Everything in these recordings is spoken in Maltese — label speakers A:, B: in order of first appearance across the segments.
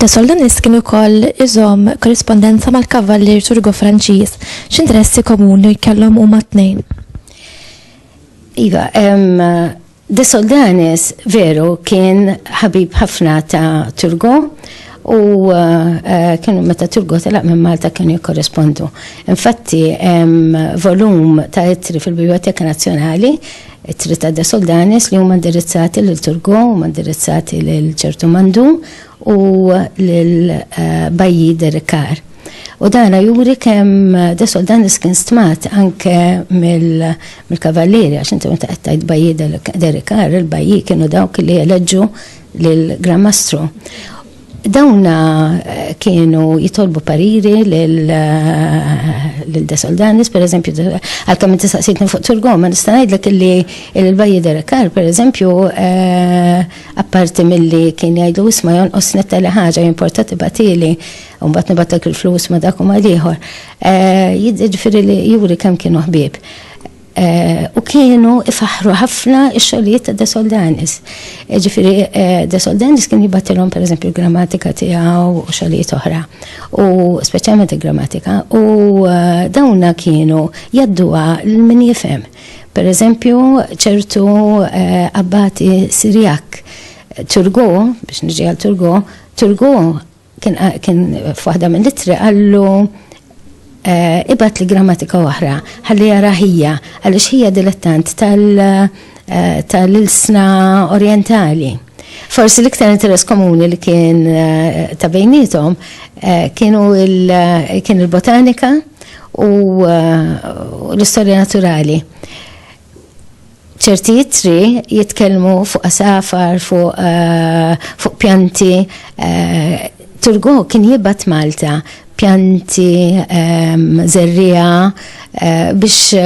A: Da Soldanis kien ukoll iżom korrispondenza mal-kavallier Turgo Franċiż. X'interessi komuni kellhom huma tnejn? Iva,
B: De Soldanis veru kien ħabib ħafna ta' Turgo u eh, kienu meta Turgo telaq minn Malta kienu jikkorrespondu. Infatti hemm volum ta' ittri fil-Biblioteka Nazzjonali ittri ta' De Soldanis li huma indirizzati lil Turgo, huma indirizzati lil ċertu Mandu u lil eh, Bajji Derikar. U dana juri kemm eh, De Soldanis kien stmat anke mill mill-kavallieri għax inti meta qed tgħid bajji Derikar, il-bajji kienu dawk li eleġġu lill-Gran Mastru. Dawna eh, kienu jitolbu pariri l-De Soldanis, per eżempju, għal-kam inti saqsitni fuq Turgo, ma nista' ngħidlek li l-bajji Derekar, per eżempju, eh, apparti mill-li kien jgħidu isma' jonqos netta li ħaġa jimportati batili, un bat nibatak il-flus ma dak u ma liħor. Jiġifieri li juri kemm kienu ħbieb. U kienu ifaħħru ħafna x-xogħlijiet ta' De Soldanis. Jiġifieri De Soldanis kien jibgħatilhom pereżempju l-grammatika tiegħu u xogħlijiet oħra. U speċjalment il-grammatika. U dawna kienu jgħadduha lil min jifhem. Pereżempju ċertu abbati Sirjak, Turgot, biex niġi għal Turgot, Turgot Kien kien f'waħda mill-ittri qallu eh, ibat li grammatika oħra, ħalli jara ħija, għaliex ħija dilettant eh, tal-ilsna orientali. Forsi l-iktar interess komuni li kien eh, ta' bejnietom eh, kienu eh, kien il-botanika u l-istorja naturali. Ċerti ittri jitkellmu fuq għasafar, fuq fuq pjanti. Turgot kien jibgħat Malta pjanti, żerriegħa biex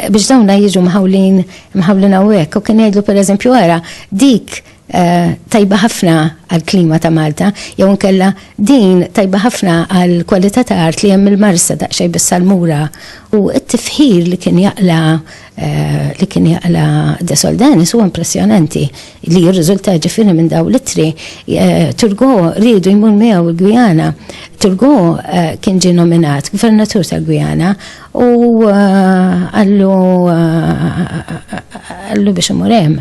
B: biex dawna jiġu mħawlin mħawlin hawnhekk u kien jgħidlu pereżempju ara dik tajba ħafna għall-klima ta' Malta, jew inkella din tajba ħafna għall-kwalità ta' art li hemm il-Marsa daqsxejn bis-salmura u t-tifħir li kien jaqla li kien jaqla De Soldanis huwa impressjonanti li jirriżulta ġifieri minn dawn l-ittri. Turgo riedu jmur miegħu l-Gwijana. Turgo kien ġie nominat gvernatur tal-Gwijana u qallu qallu biex imur hemm.